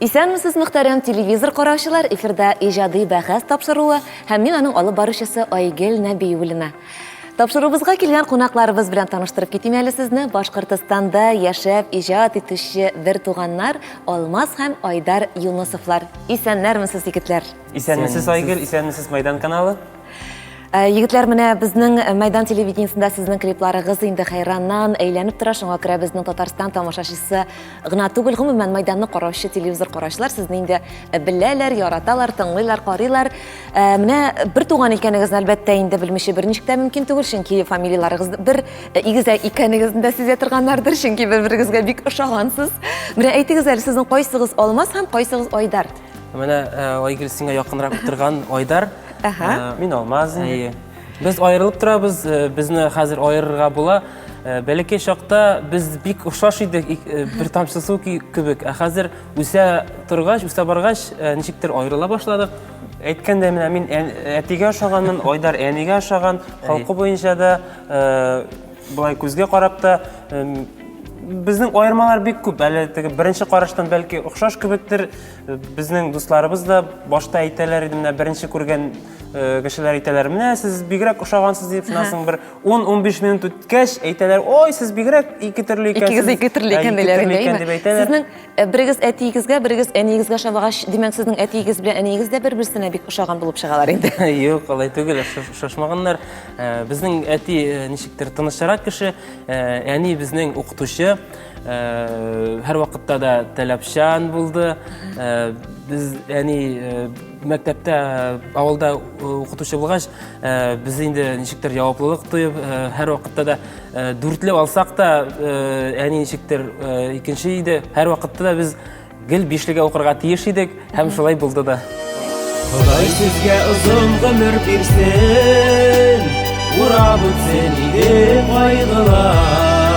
Исәнмесез, мөхтәрәм телевизор караучылар, эфирда иҗади бәхәс тапшыруы һәм мин аның алып баручысы Айгел Нәбиуллина. Тапшыруыбызга килгән кунакларыбыз белән таныштырып китим әле сезне. Башкортостанда яшәп иҗат итүче бертуганнар Алмаз һәм Айдар Юнысовлар. Исәннәрмесез, егетләр! Исәнмесез, Айгөл, исәнмесез, Майдан каналы. Э, егетләр менә безнең э, мәйдан телевидениесендә сезнең клипларыгыз инде хәйраннан әйләнеп тора шуңа күрә безнең татарстан тамашачысы гына түгел гомумән мәйданны караучы телевизор караучылар сезне инде э, беләләр яраталар тыңлыйлар карыйлар менә бер туган икәнегезне әлбәттә инде белмичә берничек тә мөмкин түгел чөнки фамилияларыгыз бер игезәк икәнегезне дә сизә торганнардыр чөнки бер берегезгә бик ошагансыз менә әйтегез әле сезнең кайсыгыз алмаз һәм кайсыгыз айдар Менә Айгөл сиңа якынрак утырган Айдар. Мин Алмаз. Без аерылып торабыз, безне хәзер аерырга була. Бәләкәй чакта без бик охшаш идек, бер тамчы су кебек. Ә хәзер үсә торгач, үсә баргач, ничектер аерыла башладык. Әйткәндә менә мин әтигә ошаганмын, Айдар әнигә ошаган, халкы буенча да Болай күзгә карап та безнең аермалар бик күп. Әле теге беренче караштан бәлки охшаш кебектер. Безнең дусларыбыз да башта әйтәләр иде, менә беренче күргән э, кешеләр әйтәләр, менә сез бигрәк ошагансыз дип, шуннан соң бер 10-15 минут үткәч әйтәләр, ой, сез бигрәк ике төрле икәнсез. Икегез ике төрле икән диләр инде. Сезнең Э, берегез әтиегезгә, берегез әниегезгә ошамагач, димәк, сезнең әтиегез белән әниегез дә бер-берсенә бик ошаган булып чыгалар инде. Юк, алай түгел, ошашмаганнар. Э, безнең әти э, ничектер тынычрак кеше, әни безнең укытучы, һәр вакытта да таләпчан булды. Без әни мәктәптә авылда укытучы булгач, без инде ничектер җаваплылык тоеп, һәр вакытта да Э, дүртле алсак та э, әни ничектер э, икенче иде һәр вакытта да без гел бишлегә укырга тиеш идек һәм шулай булды да Ходай сезгә озын гомер бирсен урап үтсен иде кайгылар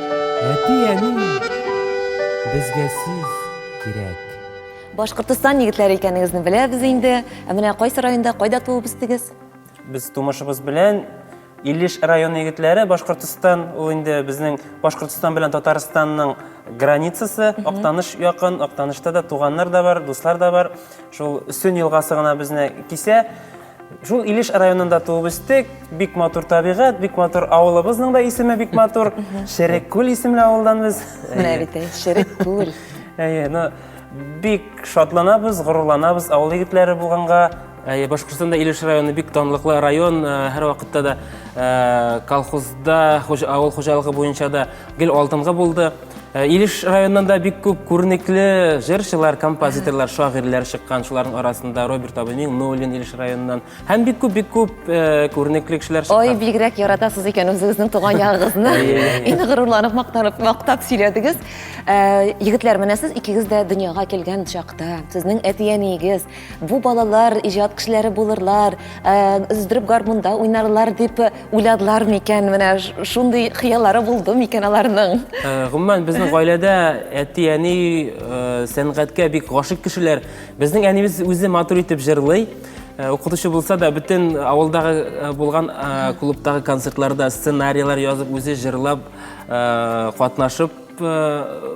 Әти-әни безгә сез кирәк. Башкортостан егетләре икәнегезне беләбез инде. Ә менә кайсы районда, кайда туып үстегез? Без тумышыбыз белән Илеш районы егетләре, Башкортостан, ул инде безнең Башкортостан белән Татарстанның границасы, Актаныш якын, Актанышта да туганнар да бар, дуслар да бар. Шул Өстен елгасы гына безне кисә. Шул Илеш районында туып үстек. Бик матур табигать, бик матур авылыбызның да исеме бик матур. Шереккүл исемле авылдан без. Менә бит, шерек күл. Әйе, ну бик шатланабыз, горурланабыз авыл егетләре булганга. Әйе, Башкортстанда Илеш районы бик данлыклы район, һәр вакытта да колхозда, авыл хуҗалыгы буенча да Гел алтынга булды. Э, Илеш районында да бик күп күренекле җырчылар, композиторлар, шагыйрьләр чыккан. Шуларның арасында Роберт абый Миңнуллин Илеш районыннан һәм бик күп бик күп э, күренекле кешеләр чыккан. Ой, бигрәк яратасыз икән үзегезнең туган ягыгызны. Инде горурланып мактанып мактап сөйләдегез. Э, егетләр, менә сез икегез дә дөньяга килгән чакта, сезнең әти-әниегез, Бу балалар иҗат кешеләре булырлар, өздереп гармунда уйнарлар дип уйладылар микән? Менә шундый хыяллары булды микән аларның? Гомумән, безнең гаиләдә әти-әни сәнгатькә бик гашык кешеләр. Безнең әнибез үзе матур итеп җырлый. Э, укытучы булса да бөтен э, авылдагы э, булган клубтагы концертларда сценарийлар язып үзе җырлап катнашып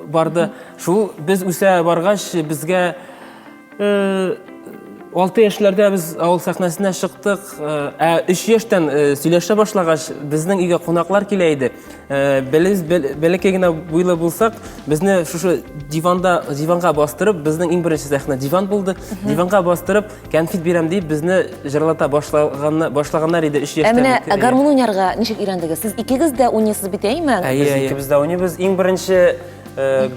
барды шул без үсә баргач безгә алты яшьләрдә без авыл сәхнәсенә чыктык ә өч яшьтән сөйләшә башлагач безнең өйгә кунаклар килә иде без бәләкәй генә буйлы булсак безне шушы диванда диванга бастырып безнең иң беренче сәхнә диван булды диванга бастырып кәнфит бирәм дип безне җырлата башлаган башлаганнар иде өч яшьтән ә менә гармун уйнарга ничек өйрәндегез сез икегез дә уйныйсыз бит әйме без икебез дә уйныйбыз иң беренче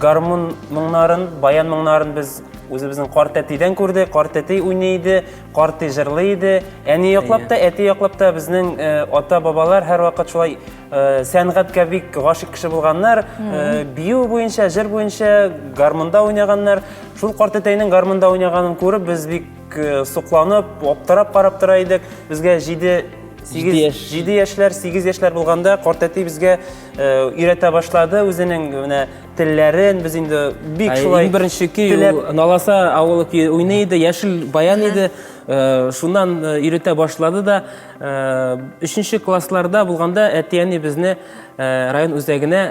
гармун моңнарын баян моңнарын без Үзебезнең карт әтидән күрде, карт әти уйный иде, карт әти җырлый иде. Әни яклап та, әти яклап та безнең э, ата-бабалар һәрвакыт шулай э, сәнгатькә бик гашык кеше булганнар. Э, бию буенча, җыр буенча гармунда уйнаганнар. Шул карт әтәйнең гармунда уйнаганын күреп, без бик э, сокланып, аптырап карап тора идек. Безгә 7 Җиде яшь. 7 яшьләр, 8 яшьләр булганда карт әти безгә э, өйрәтә башлады үзенең менә телләрен без инде бик шулай иң беренче көй наласа авылы көе уйный иде яшел баян иде э, шуннан э, өйрәтә башлады да э, өченче классларда булганда әти әни безне район үзәгенә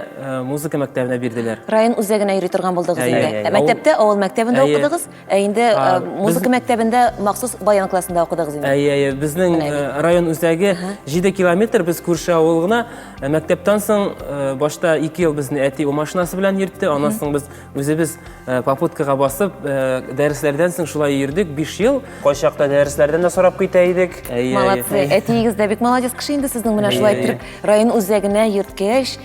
музыка мәктәбенә бирделәр район үзәгенә йөри торган булдыгыз инде мәктәптә авыл мәктәбендә укыдыгыз Ә инде э, А, музыка без- мәктәбендә махсус баян классында укыдыгыз инде. Әйе, әйе, безнең Менә э, район үзәге 7 километр, без күрше авыл гына. Э, Мәктәптән соң э, башта 2 ел безне әти ул машинасы белән йөртте, аннан соң без үзебез э, попуткага басып, э, дәресләрдән соң шулай йөрдек 5 ел. Кайчакта дәресләрдән дә сорап китә идек. Әйе, әйе. Молодцы. Әтиегез дә бик молодец кеше инде сезнең менә шулай Әйе. иттереп район үзәгенә йөрткәч,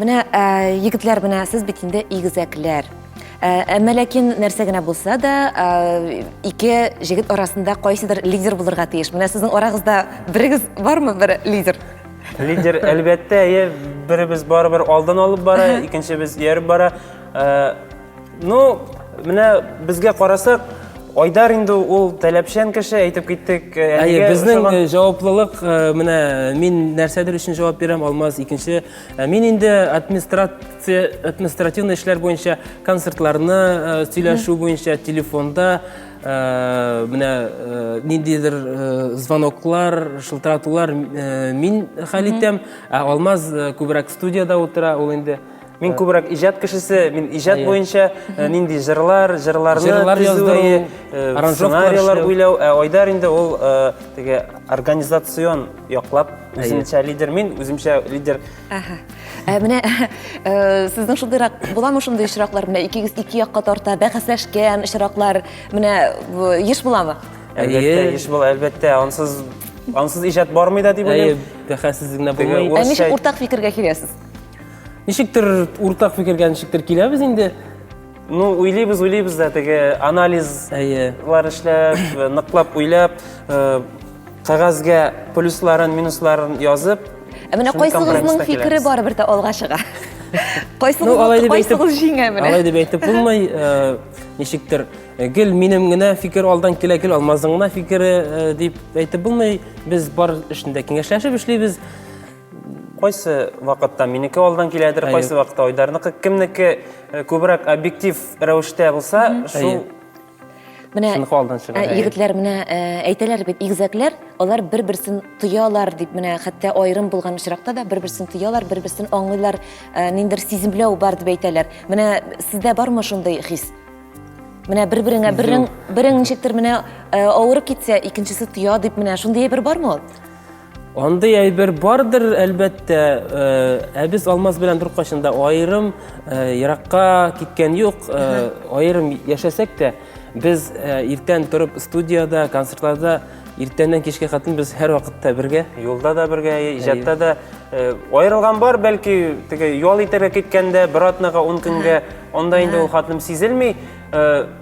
Менә егетләр менә сез бит инде игезәкләр. Әмма ләкин нәрсә генә булса да, ике җегет арасында кайсыдыр лидер булырга тиеш. Менә сезнең арагызда берегез бармы бер лидер? Лидер, әлбәттә, әйе, беребез барыбер алдан алып бара, икенчебез ияреп бара. Э, ну, менә безгә карасак, Айдар инде ул таләпчән кеше, әйтеп киттек. Э, әйе, безнең э, җаваплылык, менә мин нәрсәдер өчен җавап бирәм, Алмаз икенче. Мин инде администрация, административный эшләр буенча концертларны сөйләшү буенча телефонда Менә ниндидер звоноклар, шылтыратулар мин хәл итәм, ә Алмаз күбрәк студияда утыра, ул инде Мин күбрәк иҗат кешесе, мин иҗат буенча нинди җырлар, җырларны төзү, сценарийлар уйлау, ә Айдар инде ул теге организацион яклап үзенчә лидер, мин үземчә лидер. Ә менә э, сезнең шундыйрак буламы шундый очраклар? Менә икегез ике якка тарта, бәхәсләшкән очраклар, менә э, еш буламы? Әлбәттә, еш була, әлбәттә. Ансыз ансыз иҗат бармый да дип уйлыйм. Бәхәссез генә булмый. Ә ничек уртак фикергә киләсез? Ничектер уртак фикергә ничектер киләбез инде. Ну, уйлыйбыз, уйлыйбыз да теге анализ Әйе. лар эшләп, ныклап уйлап, э, кәгазьгә плюсларын, минусларын язып, Ә менә Шуны кайсыгызның компромисска фикере киләбез. барыбер дә алга чыга. Ну, Кайсыгыз алай дип әйтеп, кайсыгыз җиңә менә. алай дип әйтеп булмый. э, Ничектер, э, гел минем генә фикер алдан килә, гел алмазның гына фикере э, дип әйтеп булмый. Без бар эшендә киңәшләшеп эшлибез. кайсы вакытта минеке алдан киләдер, Әйе. кайсы вакытта Айдарныкы, кемнеке Э, күбрәк объектив рәвештә булса шул менә ә, егетләр менә ә, әйтәләр бит игезәкләр алар бер берсен тоялар дип менә хәтта аерым булган очракта да бер берсен тоялар бер берсен аңлыйлар ә, ниндер сиземләү бар дип әйтәләр менә сездә бармы шундый хис менә бер береңә берең берең ничектер менә ә, авырып китсә икенчесе тоя дип менә шундый бер бармы ул Андый әйбер бардыр, әлбәттә, э, ә без Алмаз белән беркайчан да аерым э, еракка киткән юк. Э, аерым яшәсәк тә, без иртән торып студияда, концертларда иртәннән кичкә хатын без һәр вакытта бергә. Юлда да бергә, иҗатта да аерылган бар, бәлки теге ял итәргә киткәндә бер атнага 10 көнгә анда инде ул хатным сизелми.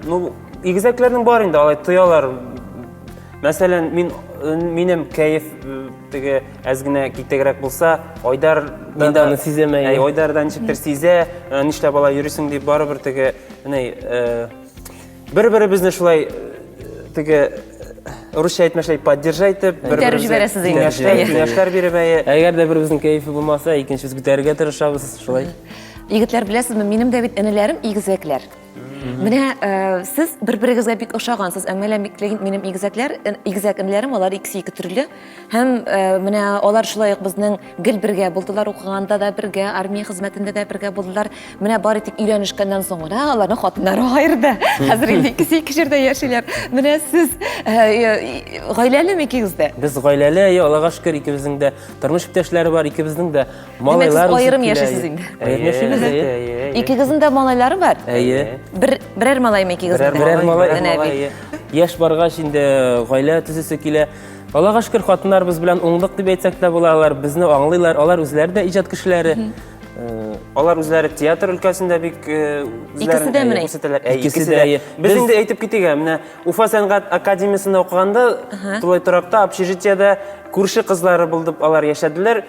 Ну, игезәкләрнең бар инде алай тоялар Мәсәлән, мин минем кәеф теге әз генә китегрәк булса, Айдар да аны сизәме? Әй, Айдар да ничектер сизә, нишләп алай йөрисең дип барыбер теге, әнә, бер-беребезне шулай теге русча әйтмәшләй поддержать итеп, бер-бер җибәрәсез инде. Киңәшләр биреп әйе. Әгәр дә беребезнең кәефе булмаса, икенчебез күтәрергә тырышабыз, шулай. Егетләр, беләсезме, минем дә бит энеләрем игезәкләр. Менә э, сез бер-берегезгә бик ошагансыз. Әмма лә миклеген минем игезәкләр, э, игезәк инләрем, алар икесе ике төрле. Һәм э, менә алар шулай ук безнең гел бергә булдылар, укыганда да бергә, армия хезмәтендә дә бергә булдылар. Менә бары тик өйләнешкәннән соң гына аларның хатыннары аерды. Хәзер инде икесе ике җирдә яшиләр. Менә сез гаиләлеме икегез дә? Без гаиләле, аллага шөкер, икебезнең дә тормыш иптәшләре бар, икебезнең дә Димәк, сез аерым яшисез инде. Аерым яшибез инде. Икегезнең дә малайлары бар? Әйе. Бер берәр малаймы икегезнең? Берәр малай. Яшь баргач инде гаилә төзесе килә. Аллага шөкер, хатыннарыбыз белән уңдык дип әйтсәк тә була, алар безне аңлыйлар, алар үзләре дә иҗат кешеләре. Э, алар үзләре театр өлкәсендә бик э, икесе дә менә күрсәтәләр. Ә икесе дә. Без инде әйтеп китик, ә менә Уфа сәнгать академиясендә укыганда тулай торакта, общежитиедә күрше кызлары булдып алар яшәделәр.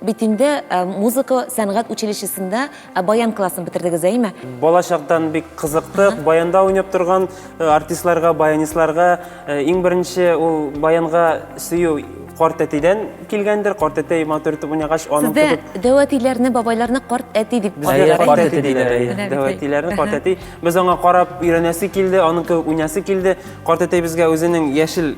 Бит инде музыка сәнгать училищесында баян классын бетердегез, әйме? Бала чактан бик кызыктык. Баянда уйнап торган артистларга, баянистларга иң беренче ул баянга сөю карт әтидән килгәндер. Карт әтәй матур итеп уйнагач, аның кебек. Сездә дәү әтиләрне, бабайларны карт әти дип Безгә карт әти диләр. Дәү әтиләрне карт әти. Без аңа карап өйрәнәсе килде, аның кебек уйнасы килде. Карт әтәй безгә үзенең яшел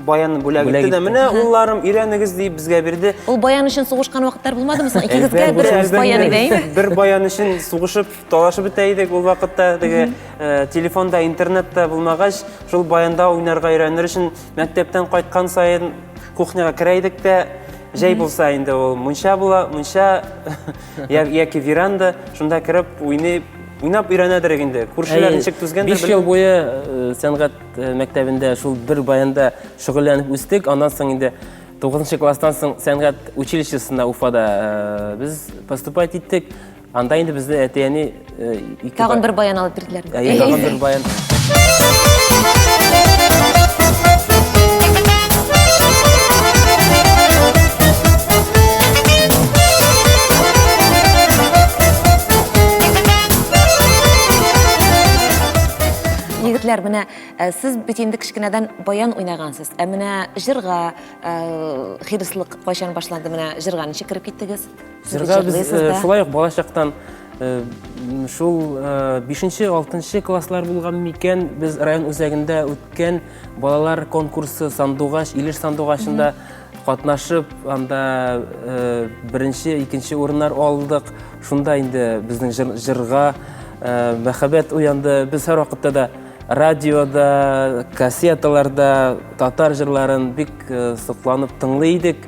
Баян бүләк итте дә, менә улларым, өйрәнегез дип безгә бирде. Ул баян өчен сугышкан вакытлар булмадымы соң? Икегезгә бер баян иде, әйме? Бер баян өчен сугышып, талашып бетә идек ул вакытта. Теге э, телефонда, интернетта булмагач, шул баянда уйнарга өйрәнер өчен мәктәптән кайткан сайын кухняга керә идек тә, Жай булса инде ул мунча була, мунча яки веранда, шунда кереп уйнап, уйнап өйрәнәдер инде. Күршеләр ничек түзгәндер. 5 ел буе э, сәнгать Э, мәктәбендә шул бер баянда шөгыльләнеп үстек аннан соң инде тугызынчы класстан соң сәнгать училищесына уфада э, без поступать иттек анда инде безне әти әни э, тагын бер баян алып бирделәр тагын бер баян Егетләр, менә э, сез бит инде кечкенәдән баян уйнагансыз. Ә менә җырга э, хирыслык кайчан башланды? Менә җырга ничек кереп киттегез? Сез Җырга без җырлыйсыз э, да. шулай ук балачактан э, м, шул э, бишенче, алтынчы класслар булган микән без район үзәгендә үткән балалар конкурсы сандугач, Илеш сандугачында Катнашып, анда беренче, икенче урыннар алдык. Шунда инде безнең җырга мәхәббәт уянды. Без һәр вакытта да радиода, кассеталарда татар җырларын бик сокланып тыңлый идек.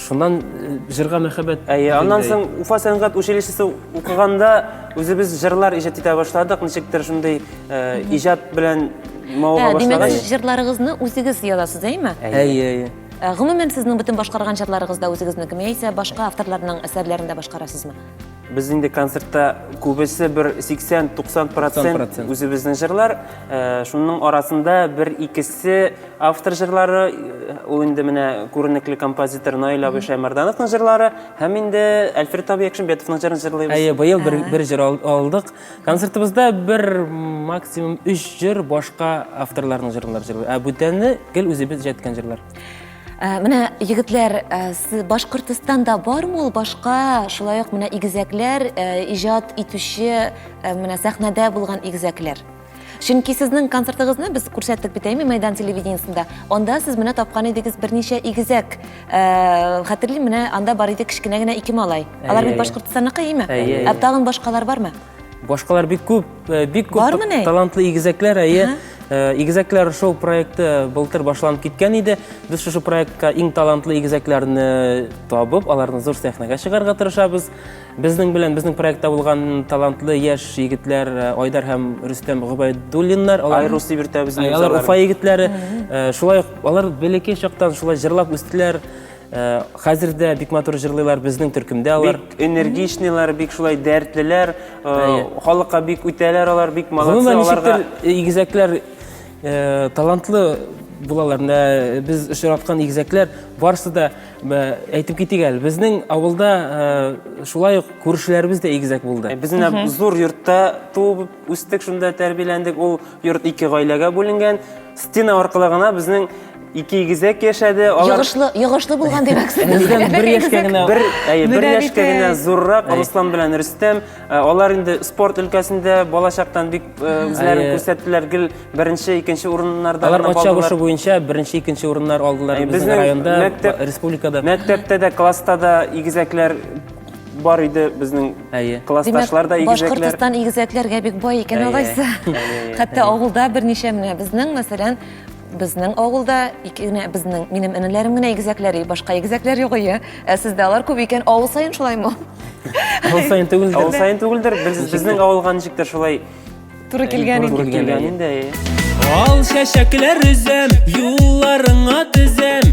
Шуннан җырга мәхәббәт. Әйе, аннан соң Уфа сәнгать училищесы укыганда үзебез җырлар иҗат итә башладык. Ничектер шундый иҗат белән Ә, димәк, сез җырларыгызны үзегез язасыз, әйме? Әйе, әйе. Ә, гомумән, сезнең бөтен башкарган җырларыгызда үзегезнеке ме яисә башка авторларның әсәрләрен дә башкарасызмы? Без инде концертта күбесе бер 80-90 процент үзебезнең җырлар. Ә, шуның арасында бер икесе автор җырлары, э, ул инде менә күренекле композитор Наил абый Шәймәрдановның җырлары һәм инде Әлфред абый Якшимбетовның җырын җырлыйбыз. Әйе, быел бер, бер җыр алдык. Концертыбызда бер максимум үш җыр башка авторларның җырларын җырлый. Ә бүтәне гел үзебез җәткән җырлар. Ә, менә егетләр, ә, сез Башкортостанда бармы ул башка, шулай ук менә игезәкләр, ә, иҗат итүче, ә, менә сәхнәдә булган игезәкләр? Чөнки сезнең концертыгызны без күрсәттек бит әйме мәйдан телевидениесендә. Анда сез менә тапкан идегез берничә игезәк. Э, хәтерлим, менә анда бар иде кечкенә генә ике малай. Алар бит Башкортостанныкы, әйме? Ә тагын башкалар бармы? Башкалар бик күп, э, бик күп талантлы игезәкләр, әйе. Э, игезәкләр шоу проекты былтыр башланып киткән иде. Без шушы проектка иң талантлы игезәкләрне табып, аларны зур сәхнәгә чыгарга тырышабыз. Безнең белән, безнең проектта булган талантлы яшь егетләр э, Айдар һәм Рөстәм Гобайдуллиннар, алар Айрус дип йөртә безнең Ә, алар җырларны. Уфа егетләре. Э, Шулай ук алар бәләкәй чактан шулай җырлап үстеләр. Э, Хәзер дә бик матур җырлыйлар безнең төркемдә алар. Бик энергичныйлар, бик шулай дәртлеләр, э, Әйе. халыкка бик үтәләр алар, бик молодцы Гомумән аларга. ничектер э, игезәкләр Э, талантлы булалар менә э, без очраткан игезәкләр барысы да э, әйтеп китик әле безнең авылда шулай ук күршеләребез дә игезәк булды без менә зур йортта туып үстек шунда тәрбияләндек ул йорт ике гаиләгә бүленгән стена аркылы гына безнең ике игезәк яшәде алар йогышлы йогышлы булган димәксез бер яшькә генә бер әйе бер яшькә генә зуррак руслан белән рөстәм Э, алар инде спорт өлкәсендә балачактан бик э, үзләрен күрсәттеләр гел беренче икенче урыннарда алар ат чабышы буенча беренче икенче урыннар алдылар безнең районда мәктәп, республикада мәктәптә дә класста да игезәкләр бар иде безнең әйе классташлар да игезәкләр башкортстан игезәкләргә бик бай икән алайса хәтта авылда берничә менә безнең мәсәлән Безнең авылда ике генә безнең минем энеләрем генә игезәкләр, и, башка игезәкләр юк ие. Ә сездә алар күп икән, авыл саен шулаймы? Авыл саен түгелдер. Авыл саен түгелдер. Без безнең авылга ничектер шулай туры килгән инде. Туры килгән инде. Ал чәчәкләр өзәм, юлларыңа тезәм.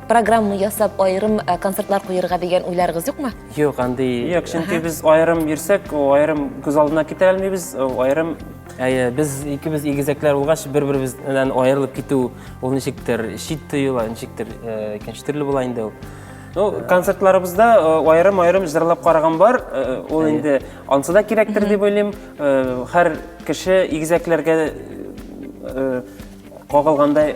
программа ясап аерым э, концертлар куерга дигән уйларыгыз юкмы? Юк, андый юк, чөнки без аерым йөрсәк, аерым күз алдына китә алмыйбыз, аерым Әйе, без икебез игезәкләр булгач, бер-беребез белән аерылып китү ул ничектер шит тоела, ничектер э, икенче төрле була инде ул. Ну, концертларыбызда аерым-аерым э, җырлап караган бар, ул инде ансы да кирәктер дип уйлыйм. Һәр кеше игезәкләргә кагылгандай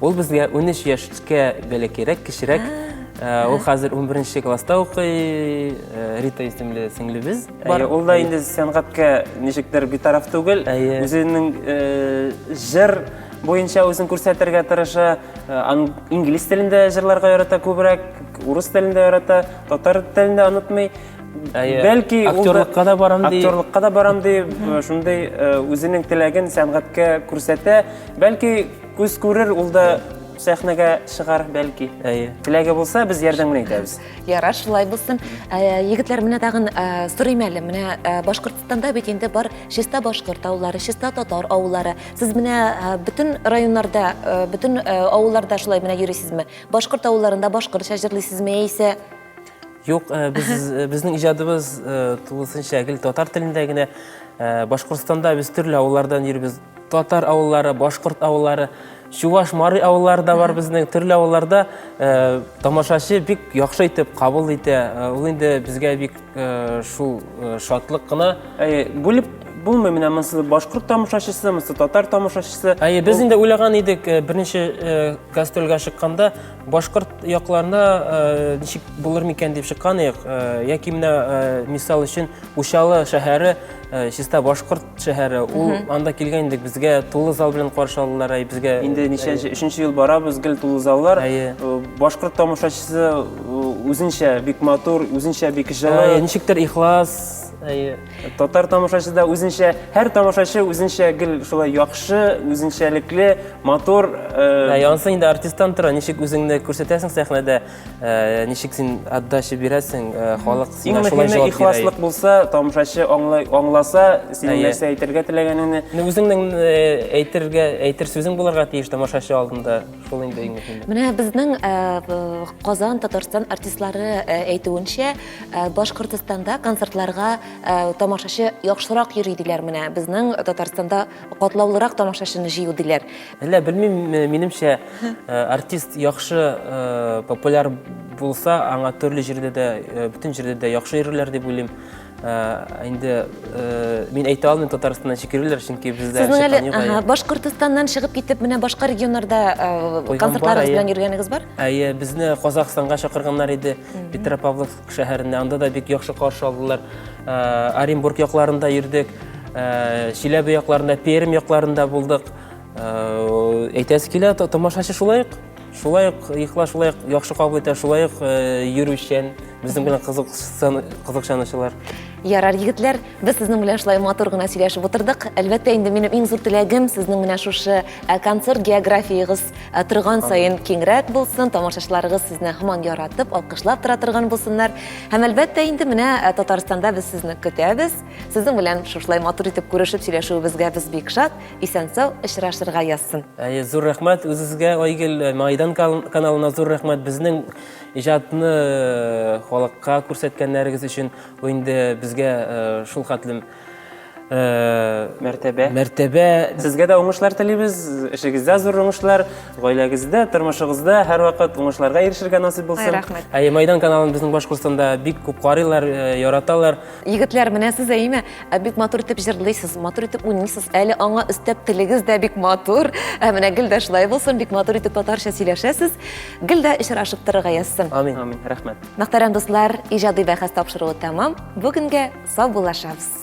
Ул безгә 13 яшькә бәле кирәк, кечерәк. Ул хәзер 11 класста укый, Рита исемле сеңлебез. Ул да инде сәнгатькә ничектер битараф түгел. Үзенең җыр буенча үзен күрсәтергә тырыша. Инглиз телендә җырларга ярата күбрәк, урыс телендә ярата, татар телен дә онытмый. Бәлки актерлыкка да барам ди. Актерлыкка да барам ди. Шундый үзенең теләген сәнгатькә күрсәтә. Бәлки Күз күрер, ул да сәхнәгә чыгар, бәлки. Әйе. Теләге булса, без ярдәм генә итәбез. Яра, шулай булсын. Ә, Егетләр, менә тагын ә, сорыйм әле. Менә ә, Башкортстанда бит инде бар чиста башкорт авыллары, чиста татар авыллары. Сез менә ә, бөтен районнарда, ә, бөтен ә, авылларда шулай менә йөрисезме? Башкорт авылларында башкортча җырлыйсызмы яисә Юк, э, без, э, безнең иҗадыбыз э, тулысынча гел татар телендә генә. Башкортстанда без төрле авыллардан йөрибез. Татар авыллары, башкорт авыллары, чуваш, мары авыллары да бар безнең. Төрле авылларда тамашачы бик яхшы итеп кабул итә. Ул инде безгә бик шул шатлык кына. Бүлеп булмый менә монысы башкорт тамашачысы монысы татар тамашачысы әйе без инде уйлаган идек э, берничә э, гастрольгә чыкканда Башкорт якларына ничек булыр микән дип чыккан идек. Яки менә мисал өчен Учалы шәһәре чиста башкорт шәһәре. Ул анда килгән идек, безгә тулы зал белән каршы алдылар. Әй безгә инде ничәнче, өченче ел барабыз, гел тулы заллар. Башкорт тамашачысы үзенчә бик матур, үзенчә бик җылы. Ничектер ихлас. Әйе. Татар тамашачы да үзенчә, һәр тамашачы үзенчә гел шулай яхшы, үзенчәлекле, матур. Ә э, янсы инде артисттан тора, ничек үзеңне күрсәтәсең сәхнәдә, э, ничек син отдача бирәсең, э, халык сиңа шулай җавап бирә. Ихласлык булса, тамашачы аңлай, аңласа, синең нәрсә әйтергә теләгәнеңне. Үзеңнең әйтергә, әйтер сүзең булырга тиеш тамашачы алдында. Шул инде иң мөһиме. Менә безнең э, э, Казан, Татарстан артистлары э, әйтүенчә, Башкортстанда концертларга тамашачы яхшырак йөри диләр менә. Безнең Татарстанда катлаулырак тамашачыны җыю диләр. Әллә белмим, минемчә артист яхшы популяр булса, аңа төрле җирдә дә, бөтен җирдә дә яхшы йөрерләр дип уйлыйм. инде мин әйтә алмыйм татарстаннан чикерүләр чөнки бездә сезнең әле башкортостаннан чыгып китеп менә башка регионнарда концертларыгыз белән йөргәнегез бар әйе безне казахстанга чакырганнар иде петропавловск шәһәренә анда да бик яхшы каршы алдылар оренбург якларында йөрдек чиләбе якларында пермь якларында булдык әйтәсе килә тамашачы шулай ук Шулай ук йокла, шулай ук яхшы кабул итә, шулай ук йөрүчән, безнең белән кызыксынучылар. Ярар, егетләр, без сезнең белән шулай матур гына сөйләшеп утырдык. Әлбәттә, инде минем иң зур теләгем сезнең менә шушы концерт географиягыз торган саен киңрәк булсын, тамашачыларыгыз сезне һаман яратып, алкышлап тора торган булсыннар. Һәм әлбәттә, инде менә Татарстанда без сезне көтәбез. Сезнең белән шушылай матур итеп күрешеп сөйләшүебезгә без бик шат. Исән-сау очрашырга язсын. Әйе, зур рәхмәт үзегезгә, Айгел, э, Майдан каналына зур рәхмәт безнең иҗатны э, халыкка күрсәткәннәрегез өчен. Бу инде безгә э, шул хәтлем мәртәбә. Мәртәбә. Сезгә дә уңышлар телибез. Эшегездә зур уңышлар, гаиләгездә, тормышыгызда һәрвакыт уңышларга ирешергә насыйп булсын. Рәхмәт. Әйе, Майдан каналын безнең Башкортстанда бик күп карыйлар, яраталар. Егетләр, менә сез әйме, ә бик матур итеп җырлыйсыз, матур итеп уйныйсыз, әле аңа өстәп телегез дә бик матур. Ә менә гел дә шулай булсын, бик матур итеп татарча сөйләшәсез. Гел дә очрашып торырга язсын. Амин. Амин. Рәхмәт. Мәхтәрәм дуслар, иҗади бәхәс тапшыруы тәмам. Бүгенгә сау булашабыз.